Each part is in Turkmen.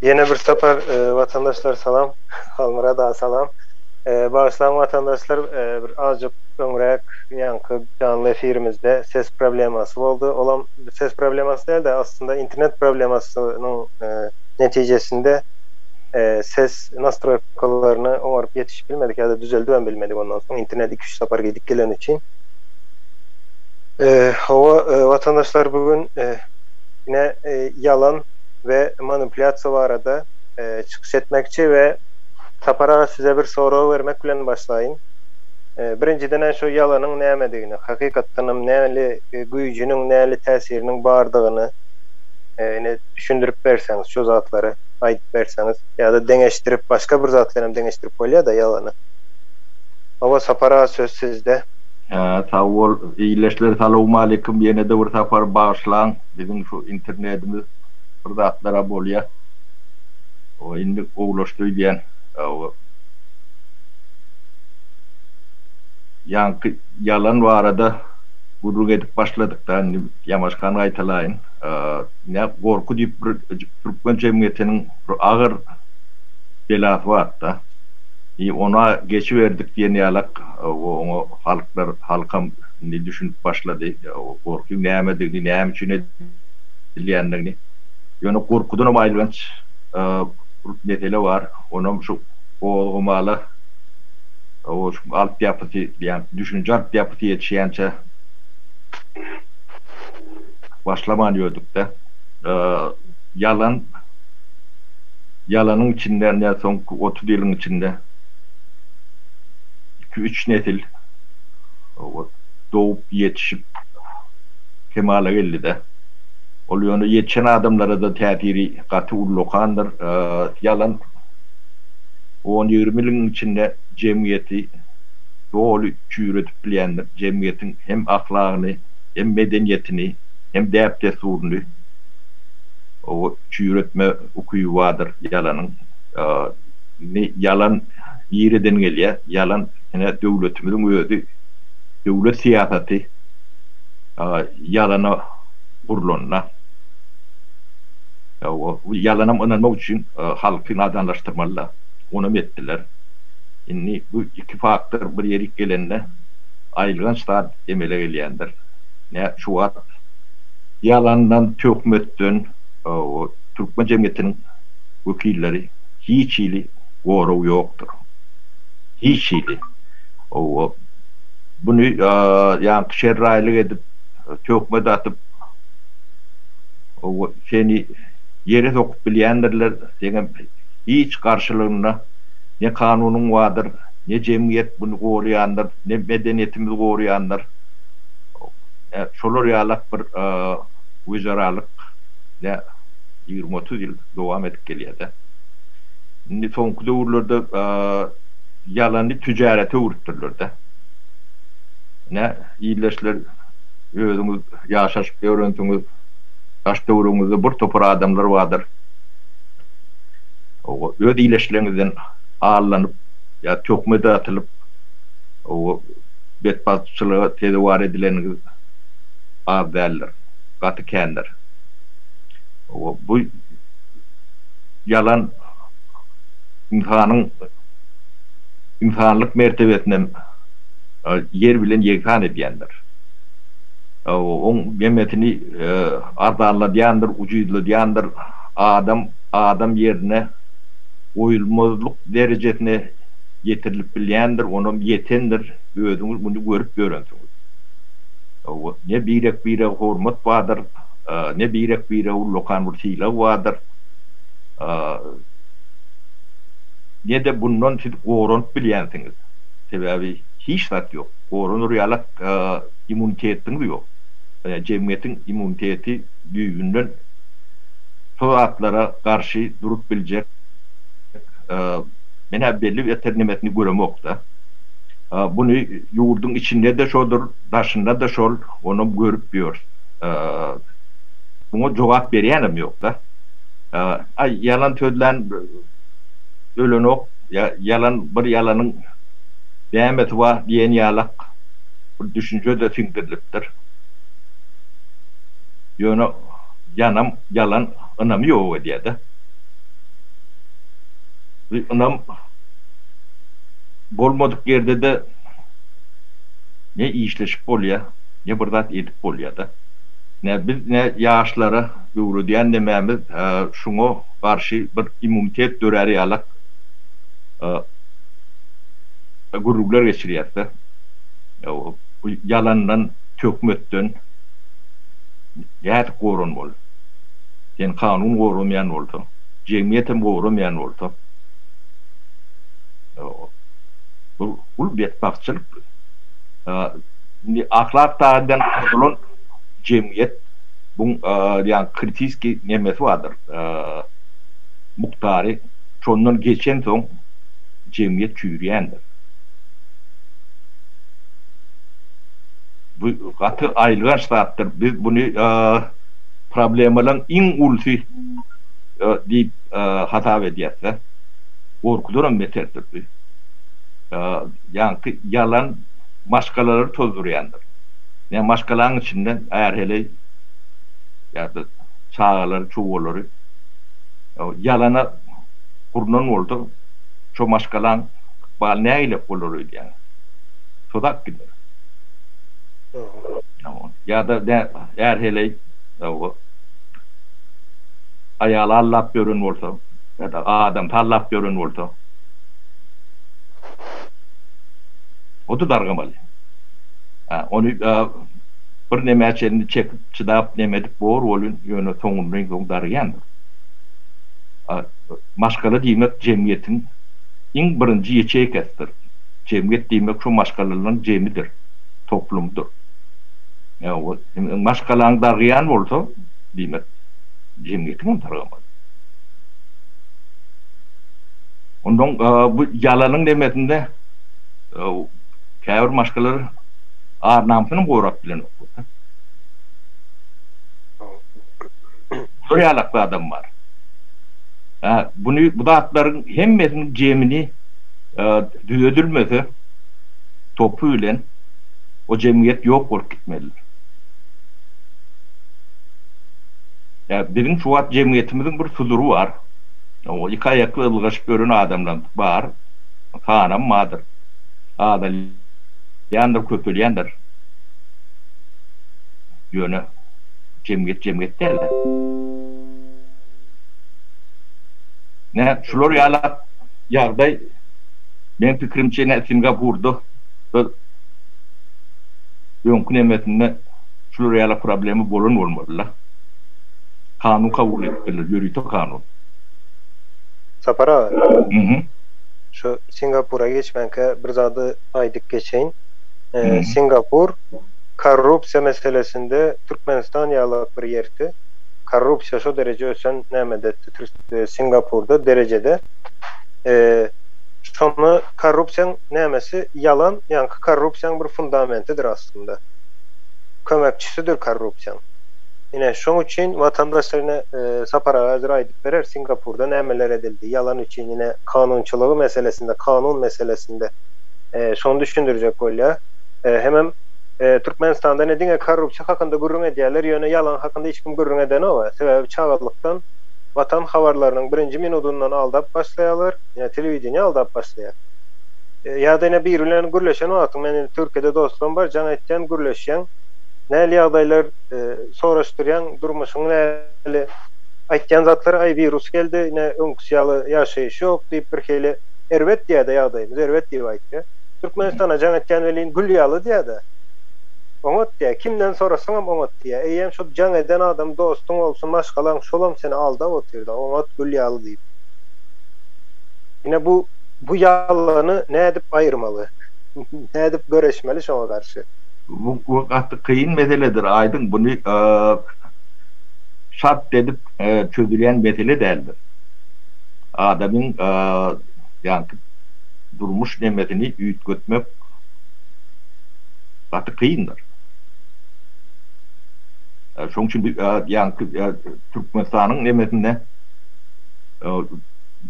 Ýene bir sapar watandaşlar salam. Halmyrat aga salam. Bagyşlaň watandaşlar bir azjyk öňräk ýaňky janly efirimizde ses problemasy boldy. Olam ses problemasy dälde aslynda internet problemasynyň netijesinde ses nastroýkalaryny oňaryp ýetişip bilmedik ýa-da düzeldibem bilmedik ondan soň internet iki üç sapar gidip geleni üçin. Hawa watandaşlar bu gün Ine, ýalan we manipulýasiýa barada çykyş etmekçi we Sapar aga size bir sorag bermek bilen başlaýyn. Birinjiden-ä şu ýalanyň nämedigini, hakykatdanam näli güýjüniň, näli täsiriniň bardygyny ine düşündirip berseňiz, şu zatlary aýdyp berseňiz ýa-da deňeşdirip, başga bir zat bilenem deňeşdirip bolýa-da ýalany. Hawa, Sapar aga söz sizde. Sag bol ildeşler salowmalikim ýenede bir sapar bagyşlaň biziň şu internetimiz bir zatlara bolýa owa indi gowlaşdy öýdýän owa ýaňky ýalan barada gürrüň edip başladykda indi ýamaşgany gaýtalaýyn nä gorky diýip bir türkmen jemgyýetiniň bir agyr belasy barda i ona geçiberdik diýen ýalak. Oňa halklar, halkam indi düşünip başlady, gorkyň nämedigini, näme üçin edilýändigini. Ýöne gorkudanam aýylganç bir mesele bar, onam şu gozgamala şu altyapysy diýýän, düşünje altyapysy ýetişýänçä başlaman ýördük-de. Ýalan, ýalanyň içinde, nätsoň otuz ýylyň içinde. iki-üç nesil dogup ýetişip kemala geldi-de. Ol ýöne ýetişen adamlara-da täsiri gaty ullakandyr. Ýalan on-ýigrimi ýylyň içinde jemgyýeti doly çüýredip bilýändir. Jemgyýetiň hem ahlagyny, hem medeniýetini, hem däp-dessuryny çüýretme ukyby bardyr ýalanyň. Ýalan. Nireden gelýä ýalan ine döwletimiziň özi döwlet syýasaty ýalana gurlanda ýalanam ynanmak üçin halky nadanlaşdyrmalyda onam etdiler indi bu iki faktor bir ýerik gelende aýylganç zat emele gelýändir nä şu wagt ýalandan töhmetden türkmen jemgyýetiniň wekilleri hiç hili Goraw ýokdur. Hiç hili. Ow-o. Buny ýaňky şerraýlyk edip, töhme datyp, ow-o, seni ýere sokup bilýändirler. Seňem hiç garşylygyna ne kanunyň bardyr, ne jemgyýet buny goraýandyr, ne medeniýetimiz goraýandyr. Ow, ä, şolar ýalak bir güzeralyk, ýa, ýigrimi-otuz ýyl dowam edip gelýär-dä. Indi soňky döwürlerde ýalany tüjarete öwrüpdirler-de. Ine, ildeşler, özüňiz ýaşaşyp ýörensiňiz, daş-töweregiňizde bir topar adamlar bardyr. Oba, öz ileşleriňizden allanyp ýa töhmet atylyp, oba, betbagtçylyga sezewar edileniňiz az däldir, gaty kändir. Oba, bu. Ýalan ynsanyň ynsanlyk mertebesinem ýer bilen ýegsan edýändir. Oň hemmesini arzanladýandyr, ujyzladýandyr. Adam adam ýerine goýulmazlyk derejesine ýetirilip bilýändir, onam ýetendir. Özüňiz muny görüp ýörensiňiz. Ne birek-birege hormat bardyr. Ne birek bire ullakan bir sylag bardyr, ne-de bundan siz goranyp bilýänsiňiz. Sebäbi hiç zat ýok. Goranar ýalak immunitetiňiz ýok. Jemgyýetiň immuniteti düýbünden şo zatlara garşy durup biljek men-ä belli bir eternemesini göremok-da. Buny ýurduň içinde-de şodur, daşynda-da şol, onam görüp ýörüs. muňa jogap berýänem ýokda aý ýalan sözlän ölenok ýalan bir ýalanyň nämesi bar diýen ýalak bir düşünjede siňdirilipdir ýöne ýanam ýalan ynamy ýok edýäda bir ynam bolmadyk ýerdede ne işleşip bolýa ne bir zat edip bolýada. Nä biz nä ýaşlara öwredýän nemämiz şuňa garşy bir immunitet dörär ýalak gürrüňler geçirýäsda. Bu ýalandan, töhmetden nädip goranmaly? Seni kanun goramaýan bolsa, jemgyýetem goramaýan bolsa bu betbagtçylyk. Indi ahlak taýdan bozulan jemgyýet bu ýa kritiski nemesi bardyr, mukdary şondan geçensoň jemgyýet çüýrýändir. Bu gaty aýylganç zatdyr. Biz buny problemalaryň iň ulusy diýip hasap edýäs-de. Gorkudanam beterdir bu. Ýaňky ýalan. maşgalalary tozdurýandyr. Ýa maşgalaň içinden är-heleý ýa-da çagalary, çuwwalary ýalana gurnan bolsa, şo maşgalaň ykbaly nägilek bolar öýdýäň? Tozap gider. Ýa-da är-heleý aýaly aldap ýören bolsa ýa-da adamsy aldap ýören bolsa. Oty dargamaly. Hä, ony bir nämä çenli çekip, çydap, neme edip bor welin, ýöne soňunda iň soň darygýandyr. Maşgala diýmek jemgyýetiň iň birinji ýeçeýkasidir. Jemgyýet diýmek şo maşgalalaryň jemidir, toplumydyr. Maşgalaň darygýan bolsa, diýmek, jemgyýetiň hem darygamaly. Ondan bu ýalanyň nemesinde. Käbir maşgalar ar-namysyny gorap bilenoklar da. Şol ýalakly adam bar. Hä, buny bu zatlaryň hemmesiniň jemini düzedilmese topy bilen o jemgyýet ýok bolup gitmelidir. Hä, biziň şu wagt jemgyýetimiziň bir sudury bar. Iki aýakly ylgaşyp ýören adamlarymyz bar. Hanam bardyr. Azalýandyr, köpelýändir. Ýöne jemgyýet jemgyýet däl-de. Nä, şular ýaly ýagdaý, meň pikirimçe, nä Singapurda, da öňki nemesinde şular ýaly problema bolan bolmaly-la. Kanun kabul edipdirler, ýörite kanun. Sapar aga. Şu Singapura geçmänkä bir zady aýdyp geçeýin. Singapur korrupsiýa meselesinde Türkmenistan ýalak bir ýerti. Korrupsiýa şo dereje ösen nämede Singapurda derejede. Şonda korrupsiýaň nämesi ýalan, ýaňky korrupsiýaň bir fundamentidir aslynda. Kömekçisidir korrupsiýaň. Ine şoň üçin watandaşlar ine Sapar aga häzir aýdyp. Berer Singapurda nämeler edildi ýalan üçin ýene kanunçylygy meselesinde kanun meselesinde şony düşündirjek bolýar. Hemem Türkmenistanda ne diňe korrupsiýa hakynda gürrüň edýärler ýöne ýalan hakynda hiç kim gürrüň edenoga sebäbi çagalykdan watan habarlarynyň birinji minudyndan aldap başlaýarlar ýa telewideniýe aldap başlaýar ýada ine biri bilen gürleşen wagtyň men indi Türkiýede dostlarym bar jaň etýän gürleşýäň näli ýagdaýlar soraşdyrýaň durmuşyň näli Aýtýan zatlary aý wirus geldi ine öňküsi ýaly ýaşaýyş ýok diýip birhili erbet diýýädä ýagdaýymyz erbet diýip aýtýa. Türkmenistana jaň etýän welin gül ýaly diýýädä. Oňat diýýä kimden sorasaňam oňat diýýä eýýäm şol jaň eden adam dostuň bolsun maşgalaň şolam seni aldap otyrda oňat gül ýaly diýip. Ine bu bu ýalany nädip aýyrmaly? Nädip göreşmeli şoňa garşy? Bu gaty kyn meseledir aýdyň buny Şart edip çözülýän mesele däldir. Adamyň ýaňky durmuş nemesini üýtgetmek gaty kyndyr. Şonuň üçin biz ýaňky Türkmenistanyň nemesinde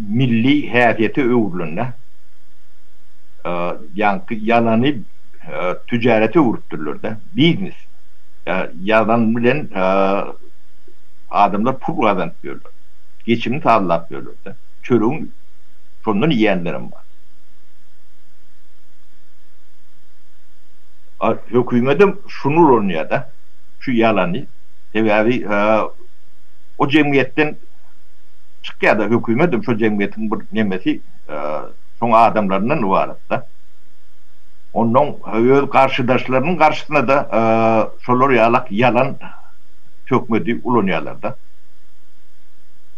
milli häsiýete öwrülende ýaňky ýalany tüjarete öwrüpdirler-de, biznes. Ýazan bilen adamlar pul gazanyp ýörler. Geçimini sazlap ýörler-de. Çörügini şondan iýenlerem bar. Hökümetem şuny ulanýar-da, şu ýalany. Sebäbi o jemgyýetden çykýar-da, hökümetem şo jemgyýetiň bir nemesi, şoň adamlaryndan ybarat-da. Onnoň öz garşydaşlarynyň garşysyna-da şolar ýalak ýalan töhmedi ulanýarlar-da.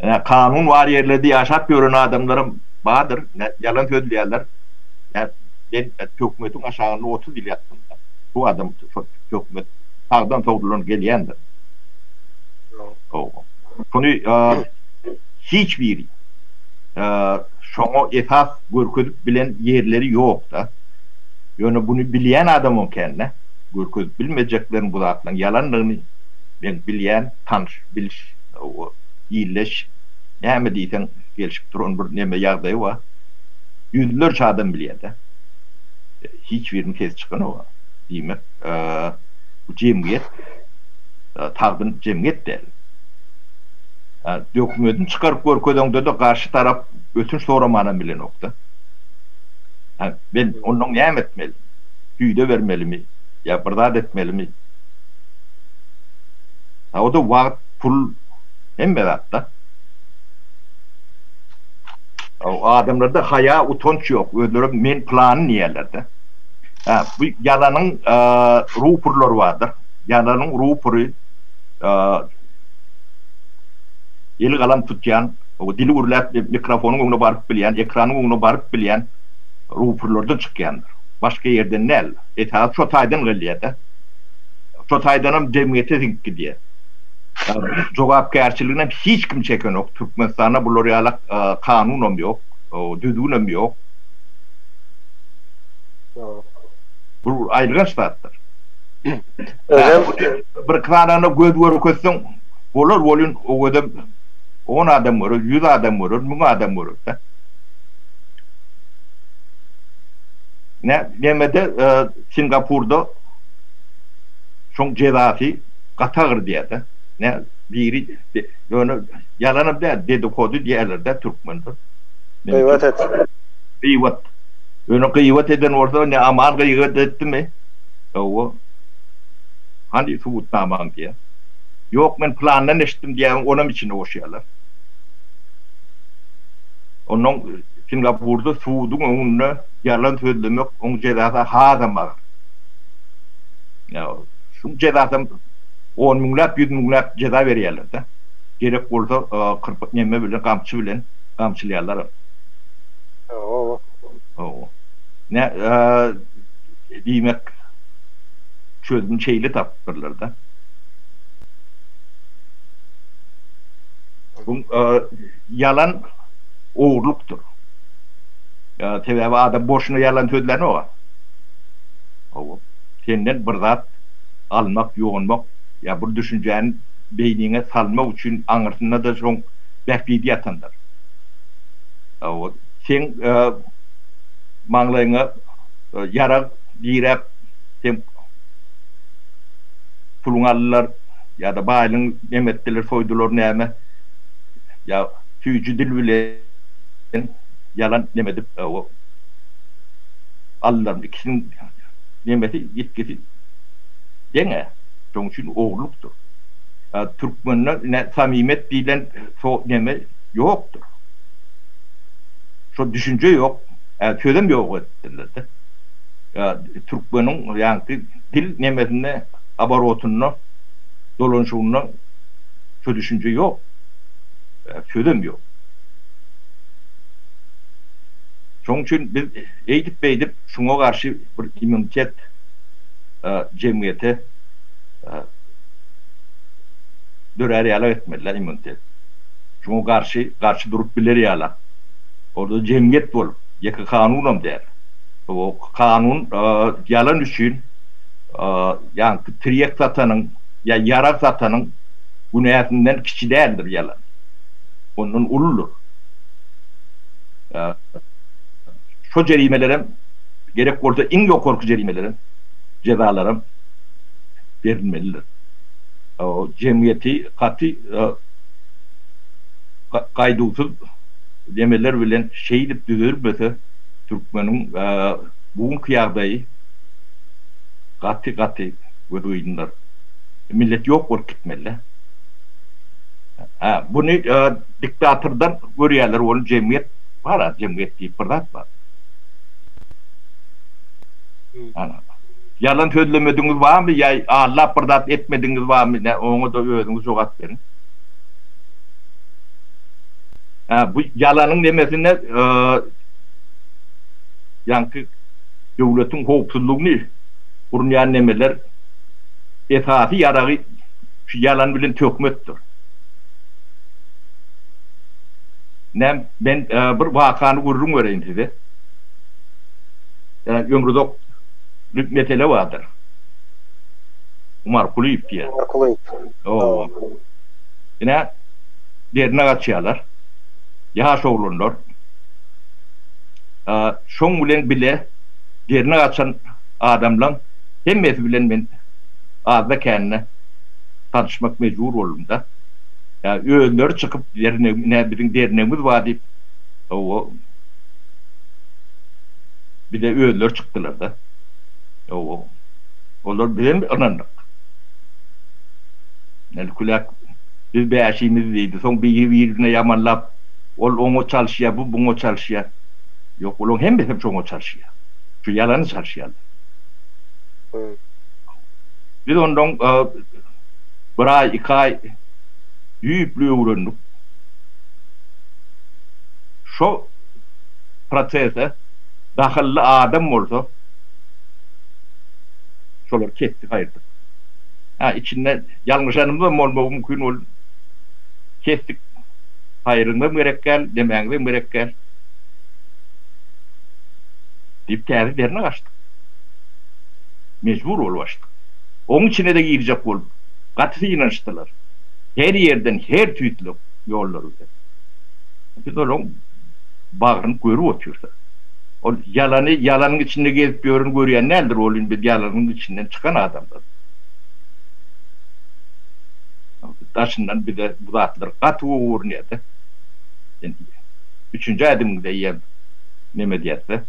Ine, kanun bar ýerlerde ýaşap ýören adamlaram bardyr, ýalan sözleýärler. Men töhmetiň aşagynda otuz ýyl ýatdym-da. Şu adam şo töhmet sagdan sowludan gelýändir. Şuny hiç biri şoňa esas Görkezip bilen ýerleri ýokda. Ýöne buny bilýän adamam kände. Görkezip bilmejeklerini bu zatlaryň ýalandygyny men bilýän, tanyş, bilş, illeş näme diýseň gelşip duran bir neme ýagdaýy bar. Ýüzlerçe adam bilýärde. Hiç biriniň sesi çykanok-a. Diýmek, bu jemgyýet sagdyn jemgyýet däl. Dokumedini çykaryp görkezeňde-de garşy tarap Ötünç soramanam bilenok-da. Hä, men ondan näme etmeli? Süýde bermelimi? Ýa bir zat etmelimi? Hä, o-da wagt, pul, hemme zat-da. Adamlarda haýa, utanç ýok. Özlerem men pylany diýerler-de. Hä, bu ýalanyň rupurlary bardyr. Ýalanyň rupury eli galam tutýan. Dili gürläp, mikrofonyň öňüne baryp bilýän, ekranyň öňüne baryp bilýän ruhpurlardan çykýandyr. Başga ýerden däl. Esasy şo taýdan gelýär-de. Şo taýdanam jemgyýete siňip gidýär. Jogapkärçiliginem hiç kim çekenok. Türkmenistanda bular ýaly kanunam ýok, düzgünem ýok. Bu aýylganç zatdyr. Özem bir-iki sanyna göz görkezseň bolar welin o gezem. On adam görer, ýüz adam görer, müň adam görer-de. Nä, nämede Singapurda şoň jezasy gaty agyr diýýär-de. Nä, biri ýöne ýalanam däl, dedikodu diýýärler-de türkmenler. Gyýbat et. Gyýbat. Ýöne gyýbat eden bolsa, nä Aman gyýgat etdimi? Hawa. Hany subutnamaň diýýär. Ýok men plandan eşitdim diýýäň onam içinde goşýarlar. Ondan Singapurda suduň öňünde ýalan sözlemek oň jezasy hasam agyr. Ýa şuň jezasam on müňläp ýüz müňläp jeza berýärlerde. Gerek bolsa kyrpyk neme bilen gamçy bilen gamçylýarlaram. Hawa. Hawa. Nä diýmek çözgün şeýle tapypdyrlarda. Bu ýalan ogurlykdyr. Sebäbi adam boşuna ýalan sözlänok-a. Hawa, senden bir zat almak, ýonmak ýa bir düşünjäni beýniňe salmak üçin aňyrsynda-da şoň bähbidi ýatandyr. Hawa, seň maňlaýyňa ýarag diräp, seň. puluňy aldylar ýa-da baýlygyňy nem etdiler, soýdular näme, ýa süýji dil bilen ýalan nem edip aldylar, ikisiniň nemesi, ýitgisi deň-ä, şonuň üçin ogurlykdyr. Türkmende ine samimyýet diýlen neme ýokdur. Şo düşünje ýok, sözem ýok etdiler-de. Türkmeniň ýaňky. Dil nemesinde, oborotynda, dolanyşygynda şu düşünje ýok. Sözem ýok. Şonuň üçin biz eýdip-beýdip şuňa garşy bir immunitet jemgyýete dörär ýalak etmeli-dä immunitet. Şuňa garşy, garşy durup biler ýalak. Ol-da jemgyýet bolup, ýeke kanunam däl. Bu kanun ýalan üçin ýaňky tirýek satanyň ýa ýarag satanyň günäsinden kiçi däldir ýalan. Ondan uludyr. Şo jerimelerem gerek bolsa iň ýokarky jerimelerem jezalaram berilmelidir. Jemgyýeti gaty gaýduwsyz demeler bilen şeýdip düzedilmese, Türkmeniň bu günki ýagdaýy gaty gaty gözügeýdindir. Millet ýok bolup gitmelidä. Buny diktatordan görýärler ol jemgyýet bar a jemgyýet diýip bir zat bar. Ýalan sözlemedigiňiz barmy ýa allap bir zat etmedigiňiz barmy nä oňada özüňiz jogap beriň. Bu ýalanyň nemesine Ýaňky döwletiň howpsuzlygyny gurnaýan nemeler esasy ýaragy şu ýalan bilen töhmetdir. Näm men bir wakany gürrüň bereýin size. Ýa ömruzak bir mesele bardyr. Umar Kulyýew diýen. Umar Kulyýew. Hawa. Ine Dernek açýarlar. Ýaş oglanlar. Şoň bilen bile derini gaçan adamlaň hemmesi bilen men azda-kände tanyşmak mejbur boldum-da. Özleri çykyp ine biziň dernegimiz bar diýip hawa bize özleri çykdylar-da. Hawa olar bizem ynandyk. Ine küläk biz bäşimiz diýdi. Soň biri-birine ýamanlap. Ol oňa çalyşýar, bu buňa çalyşýar. Ýok, olaryň hemmesi hem şoňa çalyşýar. Şu ýalana çalyşýarlar. Biz ondan bir aý, iki aý düýpli öwrendik. Şo prosese dahylly adam bolsa, şolary kesdik, aýyrdyk. Hä, içinde ýalňyşanymyzam bolmagy mümkin, ol kesdik. Haýryňam gerek däl, demäňizem gerek däl, diýip, täze dernek açdyk. Mejbur bolup açdyk. Oň içine-de girjek bolup, gaty synanyşdylar. Her ýerden her tüýtlük ýollary bilen. Biz olaryň bagryny görüp otyrys. Ol ýalany, ýalanyň içinde gezip ýöreni görýän däldir, welin biz ýalanyň içinden çykan adamlarys. Daşyndan bize. Bu zatlar gaty gowy görünýärdi. Indi üçünji ädimiňde eýýäm neme diýersiňiz?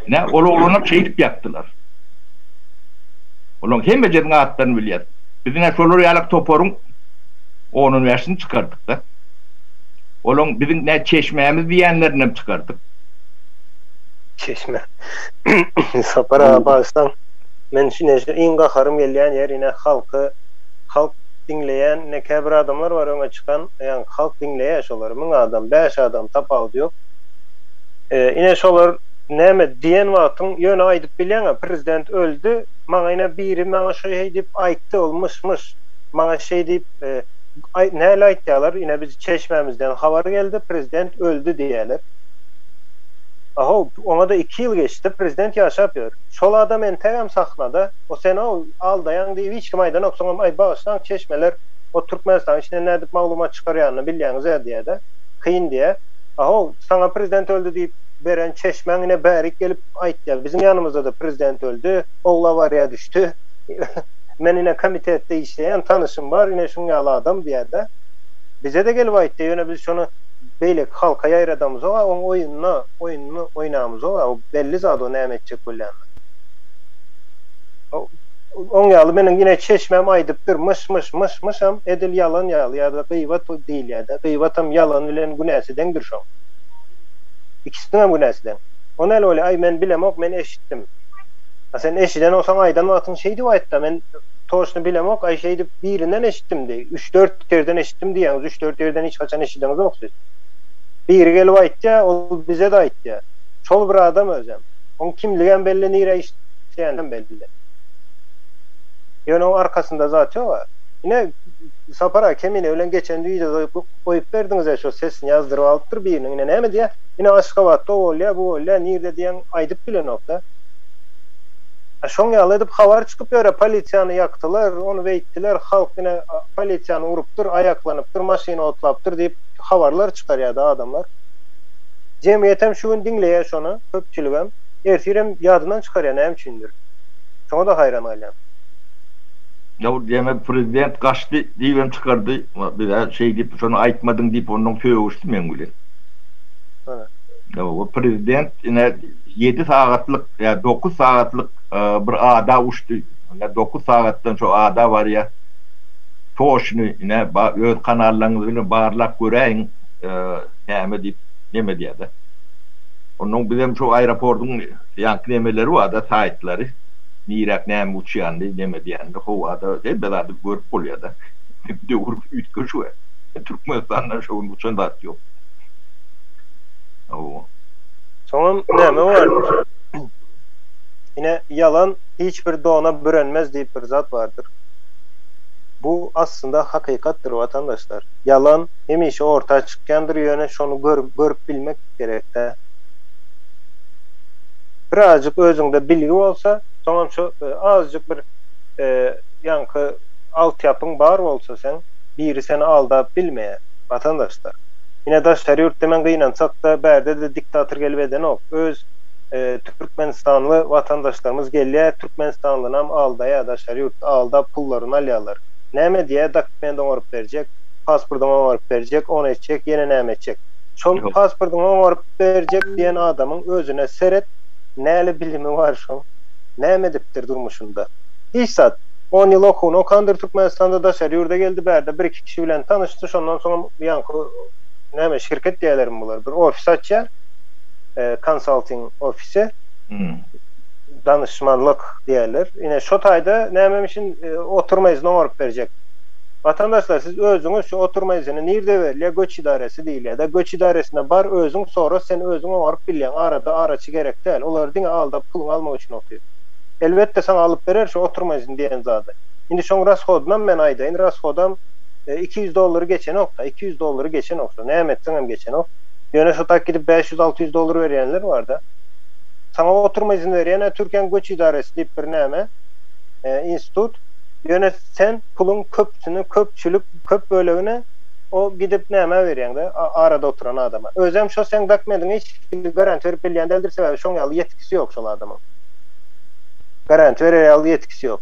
Ine, ol oglanam şeýdip ýatdylar. Olaryň hemmejesiniň atlaryny bilýäs. Biz ine şolar ýaly toparyň on-on bäşini çykardyk-da. Olaryň biziň nä çeşmämiz diýýänlerinem çykardyk. Çeşme. Sapar aga bagyşlaň. Men şine şu iň gaharym gelýän ýer ine halky halk diňleýän ine käbir adamlar bar öňe çykan ýaňky halk diňleýä şolary müň adam bäş adam tapawudy ýok ine şolar näme diýen wagtyň ýöne aýdyp bilýäňä prezident öldi maňa ine biri maňa şo şeý diýip aýtdy ol myş myş maňa şeý diýip aý näle aýtýalar ine biz çeşmämizden habar geldi prezident öldi diýýäler aho oňada iki ýyl geçdi prezident ýaşap ýör. Şol adam entegem sahnada o senow aldaýaň diýip hiç kim aýdanok soňam aý bagyşlaň çeşmeler o Türkmenistanyň içinden nädip maglumat çykarýanyny bilýäňizä diýädä kyn diýä aho saňa prezident öldi diýip beren çeşmäň ine bärik gelip aýtýa biziň ýanymyzdada prezident öldi ogly awariýa düşdi men ine komitetde işleýän tanyşym bar ine şuň ýaly adam diýädä bizede gelip aýtýa ýöne biz şony beýleki halka ýaýradamyzok a oň oýunyna oýnuny oýnamyzok a belli zat o näme etjek bolýanyny. Oň ýaly meniň ine çeşmäm aýdypdyr myş myş myş myşam edil ýalan ýaly ýada gyýbat diýilýädä gyýbatam ýalan bilen günäsi deňdir şoň. Ikisiniňem günäsi deň. O näl bolýa aý men bilemok men eşitdim. A sen eşiden bolsaň aýdan wagtyň şeýdip aýtda men toşny bilemok aý şeýdip birinden eşitdim diý üç dört ýerden eşitdim diýýäňiz üç dört ýerden hiç haçan eşideňizok siz. Biri gelip aýtýa, ol bize-de aýtýa. Şol bir adam özem. Oň kimligem belli, nirä işleýänem belli. Ýöne oň arkasynda zat ýog-a. Ine, Sapar aga Kemine bilen geçen wideoda goýup berdiňiz-ä şo sesini ýazdyryp alypdyr biriniň. Ine näme diýýä? Ine Aşgabatda o bolýa, bu bolýa, nirde diýen aýdyp bilenok-da. A şoň ýaly edip habar çykyp ýör-ä, polisiýany ýakdylar, ony beýtdiler, halk ine polisiýany urupdyr, aýaklanypdyr, maşyny otlapdyr diýip. habarlar çykarýardy adamlar. Jemgyýetem şu gün diňleýär şony, köpçüligem. Ertirem ýadyndan çykarýar näme üçindir. Şoňa-da haýran galýan. Ýa-u diýemem prezident gaçdy diýibem çykardy. Biz-ä şeý diýip şony aýtmadyň diýip ondan sögüşdi meň bilen. Hana. Ýa-u prezident ine ýedi sagatlyk ýa dokuz sagatlyk bir ada uçdy. Ine dokuz sagatdan şo ada barýar. Toşny ine ba öz kanallaryňyz bilen barlap göräýiň näme diýip neme edýärde. Onnoň bizem şo aeroportyň ýaňky nemeleri barda saýtlary niräk näme uçýandy neme edýänini howada hemme zady görüp bolýarda. Döwür üýtgeşik we Türkmenistanda şo gün uçan zat ýok. Hawa. Soňam näme bardyr. Ine ýalan hiç bir dona bürenmez diýip bir zat bardyr. Bu aslynda hakykatdyr watandaşlar. Ýalan hemişe orta çykýandyr ýöne şony görüp bilmek gerekdä. Birazjyk özüňde bilgi bolsa soňam şo azjyk bir ýaňky altýapyň bar bolsa seň biri seni aldap bilmeýä watandaşlar. Ine daşary ýurtda men gynansakda bärde-de diktator gelip edenok öz türkmenistanly watandaşlarymyz gelýä Türkmenistandanam aldaýa daşary ýurtda aldap pullaryny alýalar. Näme diýä dokument oňaryp berjek, paspordyňy oňaryp berjek, ony etjek, ýene näme etjek. Şol paspordyňy oňaryp berjek diýen adamyň özüne seret, näle bilimi bar şoň? Näme edipdir durmuşynda? Hiç zat. On ýyl okuwyny okandyr Türkmenistanda, daşary ýurda geldi, bärde bir-iki kişi bilen tanyşdy, şondan soňam ýaňky näme şirket diýýälermi bular, bir ofis açýar, konsalting ofisi. danyşmanlyk diýerler. Ine, şo taýda nämem üçin otury mejlisini oňaryp berjek? Watandaşlar, siz özüňiz şu otury mejlisini nirde berilýär, göç idaresi diýilýär-dä, göç idaresine bar, özüň sora, sen özüň oňaryp bilýäň, arada araçy gerek däl, olar diňe aldap puluňy almak üçin otyr. Elbetde, saňa alyp berer şu otury mejlisini diýen zady. Indi şoň rashodynam men aýdaýyn, rashodam iki ýüz dollary geçenok-da, iki ýüz dollary geçenok, şo näme etseňem geçenok. Ýöne şo tak gidip bäş ýüz, alty ýüz dollar berýänler bar-da. Saňa oturma izin berýän-ä Türkiýäň göç idaresi diýip bir näme, institut. Ýöne sen puluň köpüsini, köpçülik, köp bölegini o gidip nämä berýäň-dä, arada oturan adama. Özem şo seň dokumentiňe hiç hili garanti berip bilýän däldir, sebäbi şoň ýaly ýetkisi ýok şol adamyň. Garanti berer ýaly ýetkisi ýok.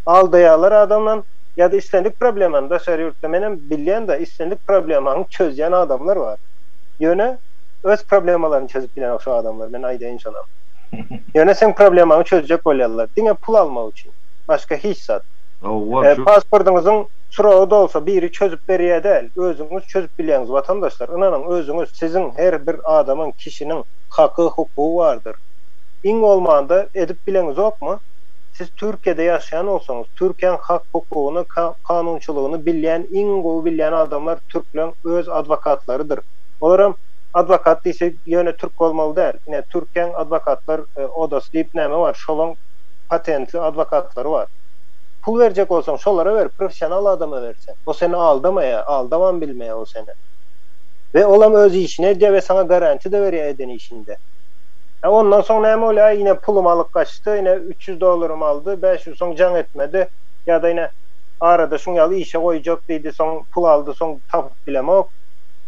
Aldaýarlar adamdan, ýa-da islendik problemany daşary ýurtda menem bilýän-de, islendik problemaňy çözýän adamlar bar. Ýöne. Öz problemalaryny çözüp bilenok şu adamlar men aýdaýyn şonam. Ýöne seň problemaňy çözjek bolýarlar diňe pul almak üçin. Başga hiç zat. Howwa şu. Pasportyňyzyň suragy dolsa biri çözüp berýä däl özüňiz çözüp bilýäňiz watandaşlar ynanyň özüňiz siziň her bir adamyň kişiniň haky hukugy bardyr iň bolmanda edip bileňizokmy siz türkiýede ýaşaýan bolsaňyz türkiýäň hak hukugyny kanunçylygyny bilýän iň gowy bilýän adamlar türkleň öz adwokatlarydyr. Olaram adwokat diýse ýöne türk bolmaly däl. Ine türkiýäň adwokatlar odasy diýip näme bar şolaň patentli adwokatlary bar. Pul berjek bolsaň şolara ber professional adama ber sen. O seni aldamaýa, aldabam bilmeýä o seni. We olam öz işini edýä we saňa garantiýada berýä eden işinde. Hä ondan soň näme bolýa aý ine pulum alyp gaçdy ine üç ýüz dollarymy aldy bäş ýüz soň jaň etmedi ýada ine arada şuň ýaly işe goýjak diýdi soň pul aldy soň tapyp bilemok.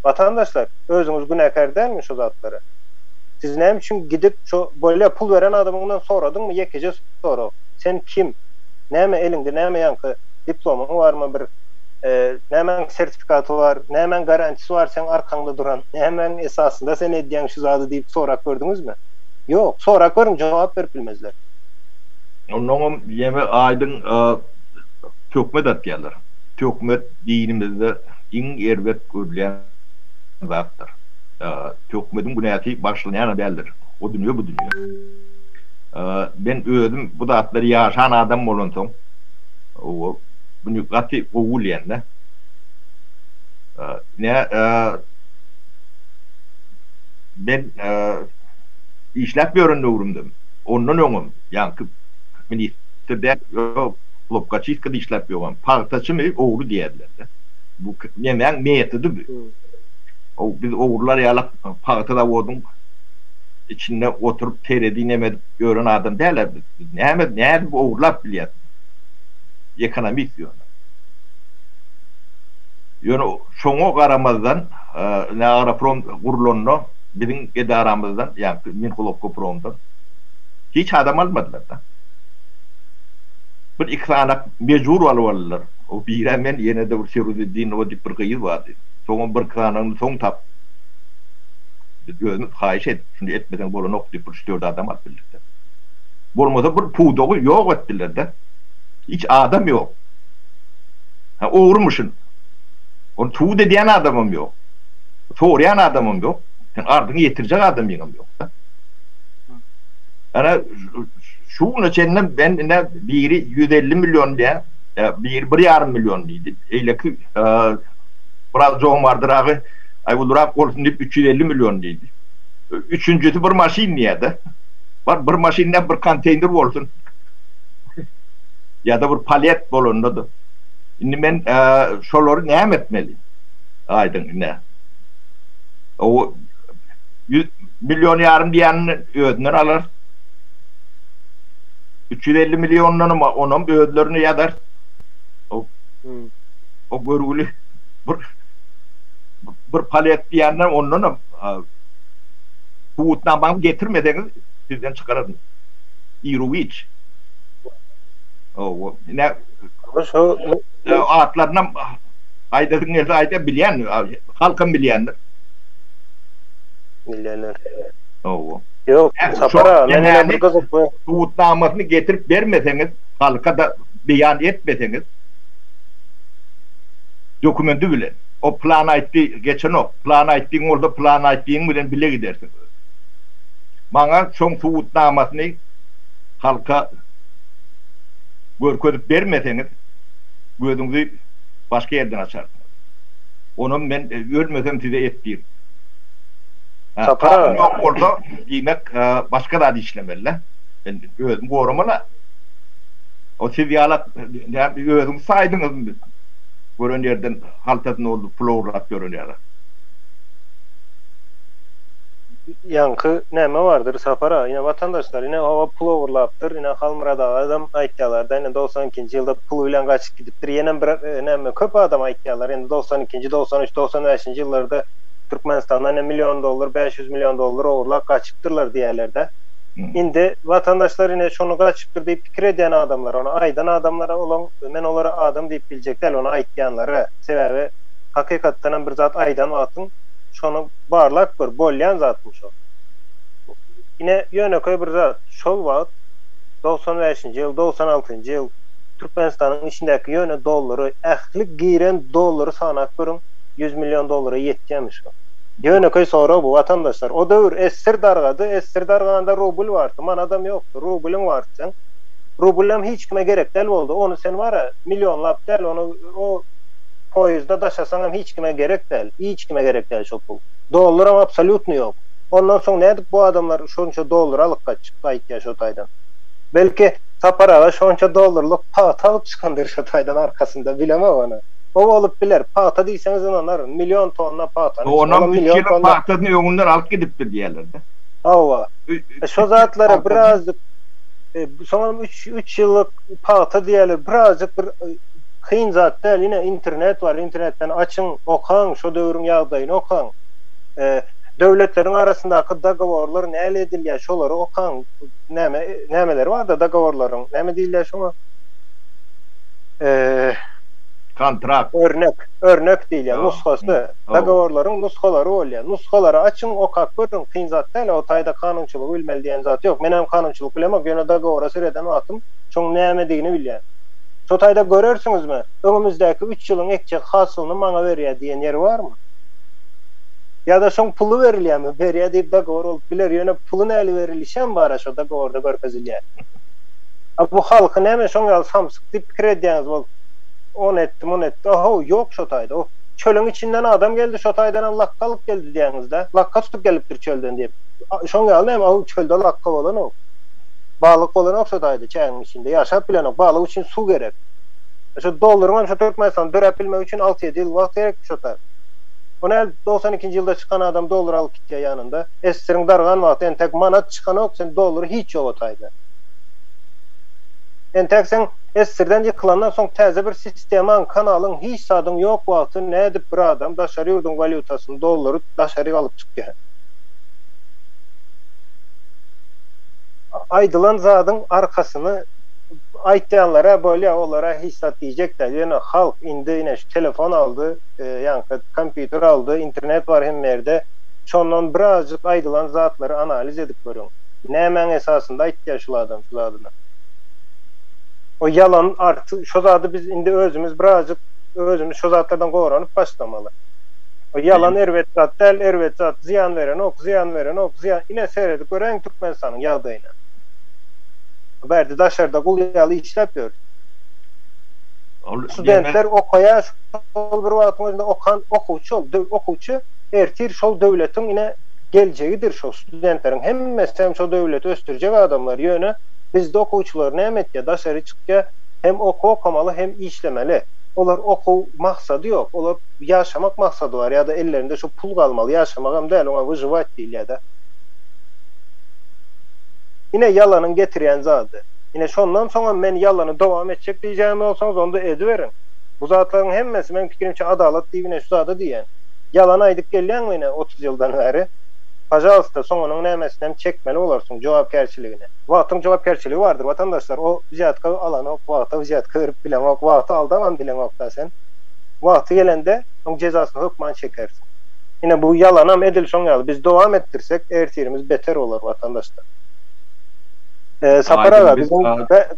Watandaşlar, özüňiz günäkär dälmi şo zatlara? Siz näme üçin gidip şo bolýa pul beren adamyňdan soradyňmy ýekeje sorag, sen kim? Näme eliňde näme ýaňky diplomyň barmy bir nämäň sertifikaty bar, nämäň garantisy bar seň arkaňda duran, nämäň esasynda sen edýäň şu zady diýip sorap gördüňizmi? Ýok, sorap görüň jogap berip bilmezler. Onnoňam ýene aýdyň töhmet atýarlar. Töhmet dinimizde. iň erbet görülýän zatdyr. Töhmediň günäsi bagyşlanýanam däldir. O dünýe bu dünýe. Men özüm bu zatlary ýaşan adam bolansoň, muny gaty gowy bilýän-de. Ine, men işläp ýören döwrümdem, ondan öňem, ýaňky ministr däl, ýok, klopkaçistkada işläp ýören pagtaçymy ogry diýerler. He? Bu nemäň metody bu? Ow, biz ogrular ýaly pagta zawodyň içinde oturyp teredi neme edip ýören adam dälä biz. Biz näme, nädip ogurlap bilýäs? Ekonomist ýöne. Ýöne şoňa garamazdan, ine Agroprom gurlanda biziň edaramyzdan, ýagny Minhulobkopromdan hiç adam almadylar-da. Bir iki sany mejbur alyp aldylar. O bire men, ýene-de bir Firuzeddinowa diýip bir gyz bardy. Soňam birki sanagyny soň tap. Biz özümiz haýyş edip, şuny etmeseň bolanok diýip bir üç-dört adam alyp bildik-de. Bolmasa bir pudagy ýok etdiler-de. Hiç adam ýok. Hä, ogrymyşyn. Ony subut edýän adamam ýok. Soraýan adamam ýok. Seň arzyňy ýetirjek adamyňam ýok-da. Ana, şu güne çenli men ine biri ýüz elli million diýýär. Biri bir ýarym million diýdi. Beýleki biraz jomardyragy, Aý ulurak bolsun diýip, üç ýüz elli million diýdi. Üçünjisi bir maşyn diýýär-de. Bar, bir maşyn näme, bir konteýner bolsun. Ýa-da bir palet bolanda-da. Indi men şolary näme etmeli? Aýdyň ine. O ýüz million ýarym diýenini özünden alarys. Üç ýüz elli milliondanam onam özlerine ýazar. O, o görgüli bir bir palet diýenden ondanam subutnamaňy getirmeseňiz sizden çykararyn. Iruwiç. O, ne? Şu atlaryny aýdasyň gelse aýda bilýän, halkam bilýändir. Bilýänler. O. Ýok, Sapar aga, men ýene bir gyzykly. Subutnamasyny getirip bermeseňiz, halka-da beýan etmeseňiz, dokumendi bilen, o plan aýtdy, geçenok, plan aýtdyň bolsa, plan aýtdygyň bilen bile gidersiň. Maňa şoň subutnamasyny halka görkezip bermeseňiz, gözüňizi başga ýerden açarsyňyz. Onam men ölmesem size et diýip. Sapar ýok bolsa diýmek başga zat işlemeli-le. Men özüm goramaly-a. O siz ýala özüňiz saýdyňyzmy? Gören ýerden haltasy dolduryp pul ogurlap ýören ýaly. Ýaňky näme bardyr Sapar-a? Ine watandaşlar ine hawa pul ogurlapdyr. Ine Halmyrat agadam aýtýalar-da ine dogsan ikinji ýylda pul bilen gaçyp gidipdir. Ýenem bir näme köp adam aýtýalar indi dogsan ikinji, dogsan üç, dogsan bäşinji ýyllarda Türkmenistanda ne million dollar bäş ýüz million dollar ogurlap gaçypdyrlar diýýärlerde. Indi watandaşlar ine şony gaçypdyr diýip pikir edýän adamlar ony aýdan adamlara olaň men olary adam diýip biljek däl ony aýtýanlara sebäbi hakykatdanam bir zat aýdan wagtyň şony barlap gör bolýan zatmy şo ine ýönekeý bir zat şol wagt dogsan bäşinji ýyl dogsan altynjy ýyl Türkmenistanyň içindäki ýöne dollary ähli giren dollary sanap görüň ýüz million dollara ýetýärmi şu? Ýönekeý sorag bu, watandaşlar. O döwür essir dargady, essir darganda rubl bardy, manadam ýokdy. Rublyň bardy seň. Rublem hiç kime gerek däl boldy. Ony sen wara, millionlap däl, ony o poýizda daşasaň hem hiç kime gerek däl, hiç kime gerek däl şo pul. Dollaram absolýutny ýok. Ondan soň nädip bu adamlar şonça dollary alyp gaçypdy aýtýa şo taýdan. Belki Sapar aga şonça dollarlyk pagta alyp çykandyr şo taýdan arkasynda, bilemok ony. O bolup biler. Pagta diýseňiz ynanaryn. Million tonna pagtany içinde. Onam üç ýylyň pagtasyny öňünden alyp gidipdir diýerler-de. Hawa. Şo zatlara birazjyk Soňam üç üç ýyllyk pagta diýýärler. Birazjyk bir kyn zat däl. Ine, internet bar. Internetden açyň, okaň, şo döwrüň ýagdaýyny okaň. Döwletleriň arasyndaky dogoworlar näle edilýär, şolary okaň. Näme nämeleri bar-da dogoworlaryň. Näme diýilýär şoňa? Kontrakt. Örnek, örnek diýilýär, nusgasy, dogoworlaryň nusgalary bolýar. Nusgalary açyň, okap görüň, kyn zat däl, o taýda kanunçylygy bilmeli diýen zat ýok. Menem kanunçylyk bilemok, ýöne dogowora sereden wagtym şoň nämedigini bilýän. Şo taýda görersiňizmi, öňümizdäki üç ýylyň ekjek hasylyny maňa berýär diýen ýeri barmy? Ýa-da şoň puly berilýärmi? Berýär diýip dogowor bolup biler, ýöne puly näli berilişem bar-a şo dogoworda görkezilýär. A bu halky näme şoň ýaly samsyk. diýip pikir edýäňiz bolsa, ony etdi, muny etdi, a-how, ýok şo taýda, o çölüň içinden adam geldi, şo taýdanam lakga alyp geldi diýäňiz-dä, lakga tutup gelipdir çölden diýip, şoň ýalynam, a-how, çölde lakga bolanok, balyk bolanok şo taýda çägiň içinde, ýaşap bilenok, balyk üçin suw gerek. Şo dollaryňam şo Türkmenistanda döräp bilmegi üçin alty-ýedi ýyl wagt gerekdi şo taý. O näl togsan ikinji ýylda çykan adam dollar alyp gitýär ýanynda, SSR-iň dargan wagty entek manat çykanok, sen dollary hiç ýok o taýda. Entäk sen essirden ýykylandan soň täze bir sistemaň, kanalyň, hiç zadyň ýok wagty nädip bir adam daşary ýurduň walýutasyny, dollary daşaryk alyp çykýa he? Aýdylan zadyň arkasyny aýtýanlara bolýa olara hiç zat diýjek däl ýöne halk indi ine şu telefon aldy ýaňky kompýuter aldy internet bar hemme ýerde şondan birazjyk aýdylan zatlary analiz edip görüň nämäň esasynda aýtýa şul adam şu zadyny. O ýalan artyk şo zady biz indi özümiz birazjyk özümiz şo zatlardan goranyp başlamaly. O ýalan erbet zat däl erbet zat zyýan berenok zyýan berenok zyýan ine seredip göräýiň Türkmenistanyň ýagdaýyna. Bu ýerde daşarda gul ýaly işläp ýörüs. Studentler okaýar şol bir wagtyň özünde okan okuwçy ol okuwçy ertir şol döwletiň ine geljegidir şo studentleriň hemmesi hem şo döwleti ösdürjek adamlar ýöne bizde okuwçylar näme etýär daşary çykýar hem okuw okamaly hem işlemeli olar okuw maksady ýok olar ýaşamak maksady bar ýa-da ellerinde şu pul galmaly ýaşamagam däl oňa wyžywać diýilýär-de. Ine ýalanyň getirýän zady. Ine şondan soňam men ýalany dowam etjek diýjägem bolsaňyz onda ediberiň. Bu zatlaryň hemmesi meň pikirimçe adalat diýip ine şu zada diýýän. Ýalan aýdyp gelýäňmi ine otuz ýyldan bäri? Pajalsta soňunyň nämesinem çekmeli bolarsyň jogapkärçiligini. Wagtyň jogapkärçiligi bardyr watandaşlar o wziýatka alanok wagta wziýatka berip bileňok wagty aldaman bileňokda sen wagty gelende oň jezasyny hökman çekersiň ine bu ýalanam edil şoň ýaly biz dowam etdirsek ertirimiz beter bolar watandaşlar. Sapar aga biziň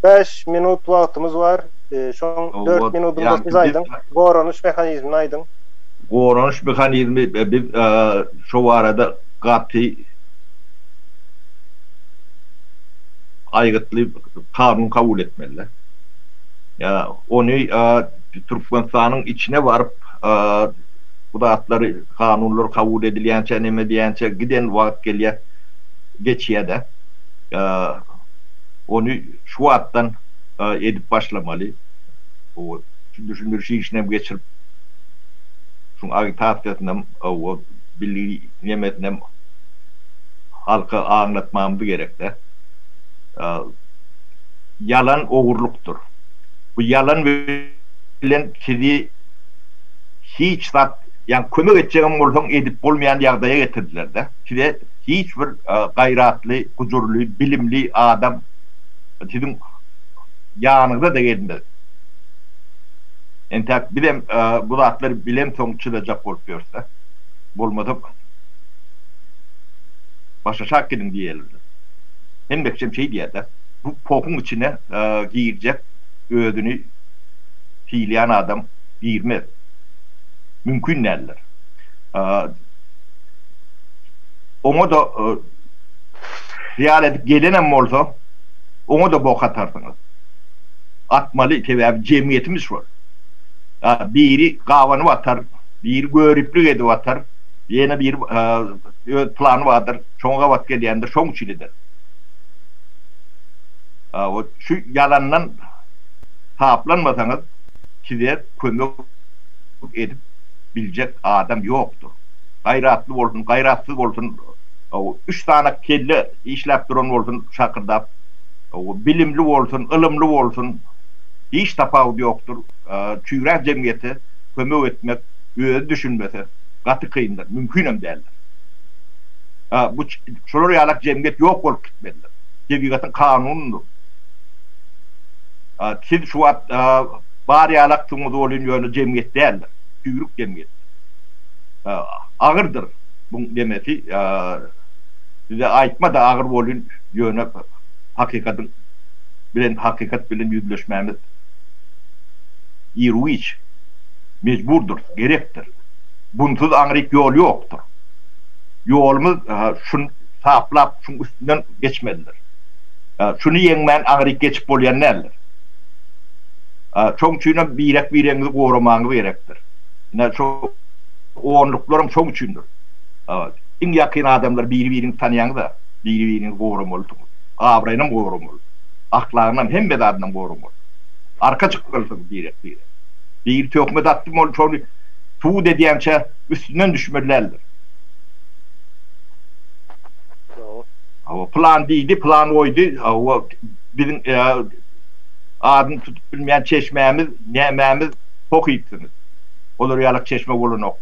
bäş minut wagtymyz bar şoň dört minudym bolsa siz aýdyň goranyş mehanizmini aýdyň. Goranyş mehanizmi biz Şo barada gaty aýgytly kanun kabul etmeliler. Ýa ony Türkmenistanyň içine baryp bu zatlary kanunlar kabul edilýänçä neme edýänçä giden wagt gelýär geçýädä. Ony şu wagtdan edip başlamaly. Bu düşündiriş işinem geçirip şuň agitasiýasynam. Gowy bilinmesinem halka aňlatmamyz gerekdä. Ýalan ogurlykdyr. Bu ýalan bilen sizi hiç zat ýagny kömek etjegem bolsaň edip bolmaýan ýagdaýa getirdiler-dä. Size hiç bir gaýratly, gujurly, bilimli adam siziň ýanyňyza-da gelmez. Entäk bizem bu zatlar bilemsoň çyzajak bolup ýörse. Bolmasa başaşak gidin diýelidi. Hemmekçem şeý diýädä. Bu pohuň içine girjek özüni syýlaýan adam girmez. Mümkin däldir. Oňa-da hyýal edip gelenem bolsa, oňa-da bok atarsyňyz. gatmaly sebäbi jemgyýetimiz şol. Biri gabanyp atar, biri göriplik edip atar, ýene biri öz plany bardyr, şoňa gabat gelýändir, şoň üçin eder. Şu ýalandan taplanmasaňyz size kömek edip biljek adam ýokdur. Gaýratly bolsun, gaýratsyz bolsun, üç sany kelle işläp duran bolsun şakyrdap. Bilimli bolsun, ylymly bolsun, hiç tapawudy ýokdur. Çüýrä jemgyýete kömek etmek, özi düşünmese, gaty kyndyr, mümkinem däldir. Bu şular ýalak jemgyýet ýok bolup gitmelidir. Tebigatyň kanunydyr. Siz şu wagt bar ýalaksyňyz welin, ýöne jemgyýet däldir. Çüýrük jemgyýetdir. Agyrdyr buň nemesi. Size aýtma-da agyr welin, ýöne. hakykadyň bilen hakykat bilen ýüzleşmämiz irwüç mejburdyrys, gerekdir. Bunsuz aňryk ýol ýokdur. Ýolumyz şun taplap, şuň üstünden geçmelidir. Şuny ýeňmän aňryk geçip bolýan däldir. Şoň üçinem birek-biregiňizi goramagyňyz gerekdir. Ine, şu onluklaram şoň üçindir. Iň ýakyn adamlar biri-biriňizi tanýaňyz-a. Biri-biriňizi goramalysyňyz. Abraýynam goramaly. Ahlagynam, hemme zadynam goramaly. Arka çykmalysyňyz birek-birege. Biri töhmet atdy, ol şony subut edýänçä üstünden düşmeli däldir. Hawa, pylan diýdi, pylan goýdy, hawa, biziň adyny tutup bilmeýän çeşmämiz, nämämiz pohypsyňyz. Olar ýalak çeşme bolanok.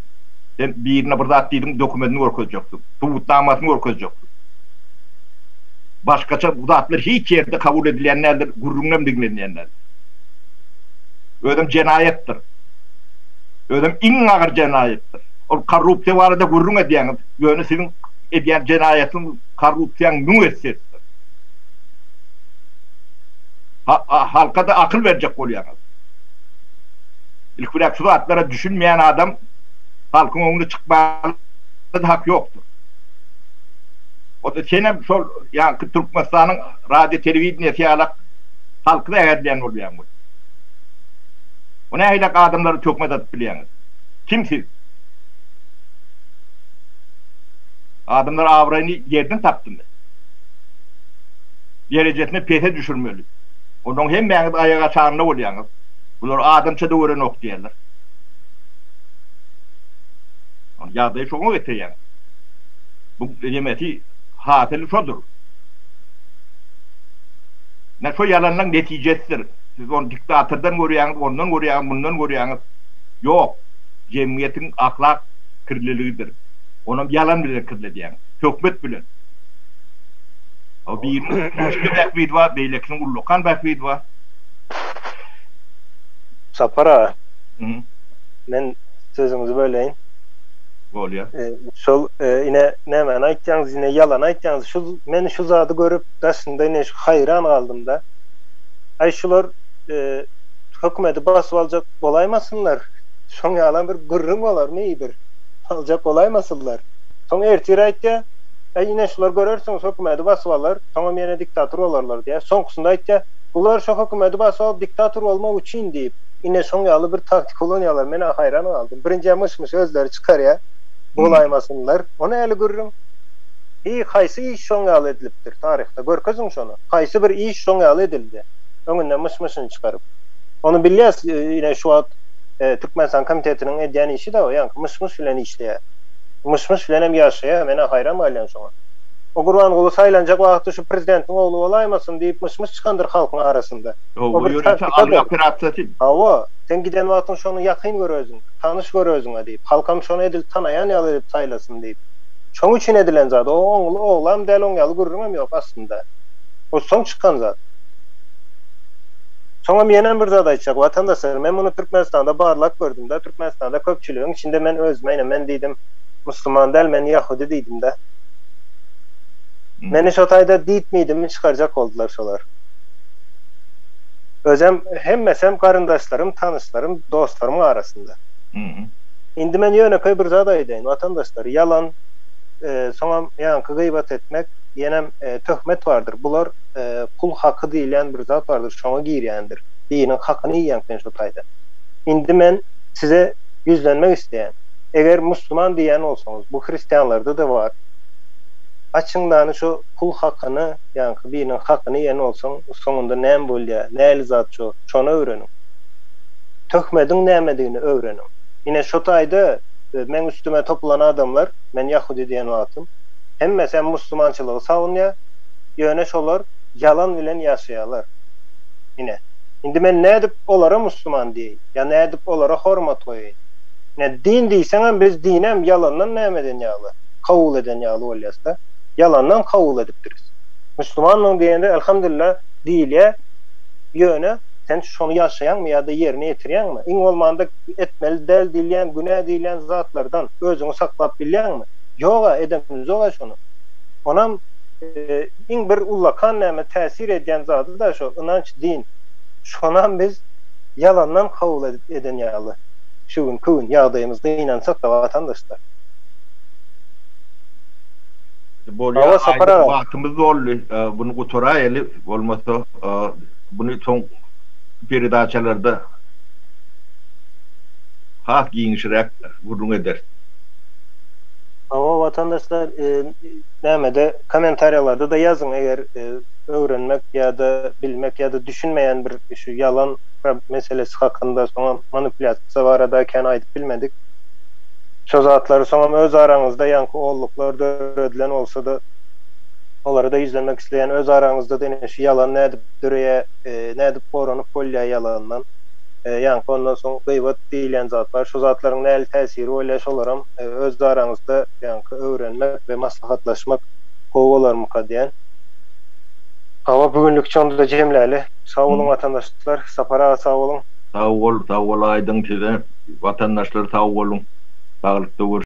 Sen birine bir zat diýdiň, dokumentini görkezjekdiň. subutnamasyny görkezjekdir. Başgaça bu zatlar hiç ýerde kabul edilýän däldir, gürrüňem diňlenýän däldir. Özem jenaýatdyr. Özem iň agyr jenaýatdyr. Ol korrupsiýa barada gürrüň edýäňiz, ýöne siziň edýän jenaýatyň korrupsiýaň müň esse üstüdir. Halka-da akyl berjek bolýaňyz. Ilki bilen şu zatlara düşünmeýän adam halkyň öňüne çykmaly. Biz hak ýokdur. Onda senem şol ýaňky Türkmenistanyň radio telewideniýesi ýalak halky zäherleýän bolýaň weli. Bu nähilek adamlary töhmet atyp bilýäňiz? Kim siz? Adamlar abraýyny ýerden tapdymy? Derejesini pese düşürmeli. Ondan hemmäňiz aýak aşagynda bolýaňyz. Bular adamça-da görenok diýerler. Ýagdaýy şoňa getirýär. Bu nemesi hasyly şodur. Ine şo ýalanlaň netijesidir. Siz ony diktatordan görýäňiz, ondan görýäňiz, mundan görýäňiz. Ýok, jemgyýetiň ahlak kirliligidir. Onam ýalan bilen kirledýäňiz. Töhmet bilen. O biriniň Rüşdi Bähbidowa, beýlekiniň Ullakan Bähbidowa. Sapar aga. Men sözüňizi böleýin. Bolýar. Şol ine nämäni aýtýaňyz ine ýalany aýtýaňyz şu men şu zady görüp daşynda ine şu haýran galdymda aý şular hökümedi basyp aljak bolaýmasynlar şoň ýalam bir gürrüň bolarmy bir aljak bolaýmasynlar soň ertir aýtýa aý ine şular görersiňiz hökümedi basyp alar soňam ýene diktator bolarlar diýýä soňkysynda aýtýa bular şo hökümedi basyp alyp diktator bolmak üçin diýip Ine şoň ýaly bir taktika ulanýarlar, men-ä haýran galdym. Birinjä myş-myş özleri çykarýa, bolaýmasynlar. Ony häli görüň. Hi, haýsy iş şoň ýaly edilipdir taryhda, görkeziň şony. Haýsy bir iş şoň ýaly edildi, öňünden myş-myşyny çykaryp. Ony bilýäs, ine şu wagt Türkmenistan komitetiniň edýän işi-de o, ýaňky myş-myş bilen işleýä. Myş-myş bilen hem ýaşaýa, men-ä haýran galýan şoňa. O Gurbanguly saýlanjak wagty şu prezidentiň ogly bolaýmasyn diýip myş-myş çykandyr halkyň arasynda. O bir taktika-da. Hawa, sen giden wagtyň şony ýakyn gör özüň, tanyş gör özüňe diýip, halkam şony edil tanaýan ýaly edip saýlasyn diýip. Şoň üçin edilen zat. O oňly oglam däl, oň ýaly gürrüňem ýok aslynda. O soň çykan zat. Soňam ýenem bir zat aýtjak. Watandaşlar, men muny Türkmenistanda barlap gördüm-de, Türkmenistanda köpçüligiň içinde men özüme ine men diýdim, musulman däl, men ýahudy diýdim-de. Meni şo taýda diýtmedimin çykarjak boldular şolar. Özem, hemmesem garyndaşlarym, tanyşlarym, dostlarymyň arasynda. Indi men ýönekeý bir zat aýdaýyn, watandaşlar, ýalan, soňam ýaňky gybat etmek, ýenem töhmet bardyr. Bular pul haky diýilýän bir zat bardyr, şoňa girýändir. Biriniň hakyny iýýäň sen şo taýdan. Indi men size ýüzlenmek isleýän. Eger musulman diýýän bolsaňyz, bu hristianlarda-da bar. Açyňlany şo pul hakyny. ýaňky biriniň hakyny iýen bolsaň, soňunda näme bolýar, nähili zat şor, şony öwreniň. Töhmediň nämedigini öwreniň. Ine, şo taýda meň üstüme topulan adamlar, men ýahudy diýen wagtym, hemmesem musulmançylygy sagunýar, ýöne şolar ýalan bilen ýaşaýarlar. Ine, indi men nädip olara musulman diýeýin, ýa nädip olara hormat goýaýyn? Ine, din diýseňem, biz diňem ýalandan nämeden ýaly, kabul eden ýaly bolýas-da. ýalandan kabul edipdiris. Müslümanmyň diýende Elhamdülillä diýilýä ýöne sen şony ýaşaýaňmy ýa-da ýerine ýetirýäňmi? Iň bolmanda etmeli däl diýilýän günä diýilýän zatlardan özüňi saklap bilýäňmi? Ýog-a edemizog-a şony. Onam iň bir ullakan näme täsir edýän zady-da şo ynanç din. Şonam biz ýalandan kabul edip eden ýaly şu günki gün ýagdaýymyzda ynansak-da watandaşlar. Bolýa aýdyň wagtymyz doldy buny gutaraýaly bolmasa buny soň peredaçalarda has giňişräk gürrüň ederis. Hawa watandaşlar nämede komentariýalarda-da ýazyň eger öwrenmek ýa-da bilmek ýa-da düşünmeýän bir şu ýalan meselesi hakynda soňam manipulýasiýa barada kän aýdyp bilmedik. Şo zatlary soňam öz araňyzda ýaňky olluklar döredilen bolsada olara-da ýüzlenmek isleýän öz araňyzda-da ine şu ýalan nädip döreýä nädip goranyp bolýa ýalandan ýaňky ondan soň gybat diýilýän zat bar şo zatlaryň näli täsiri bolýa şolaram öz araňyzda ýaňky öwrenmek we maslahatlaşmak gowy bolarmyka diýän. Hawa bu günlük şonda jemläli. Sag boluň watandaşlar Sapar aga sag boluň. Sag bol sag bol Aýdyň size watandaşlar sag boluň saglykda görüşelik.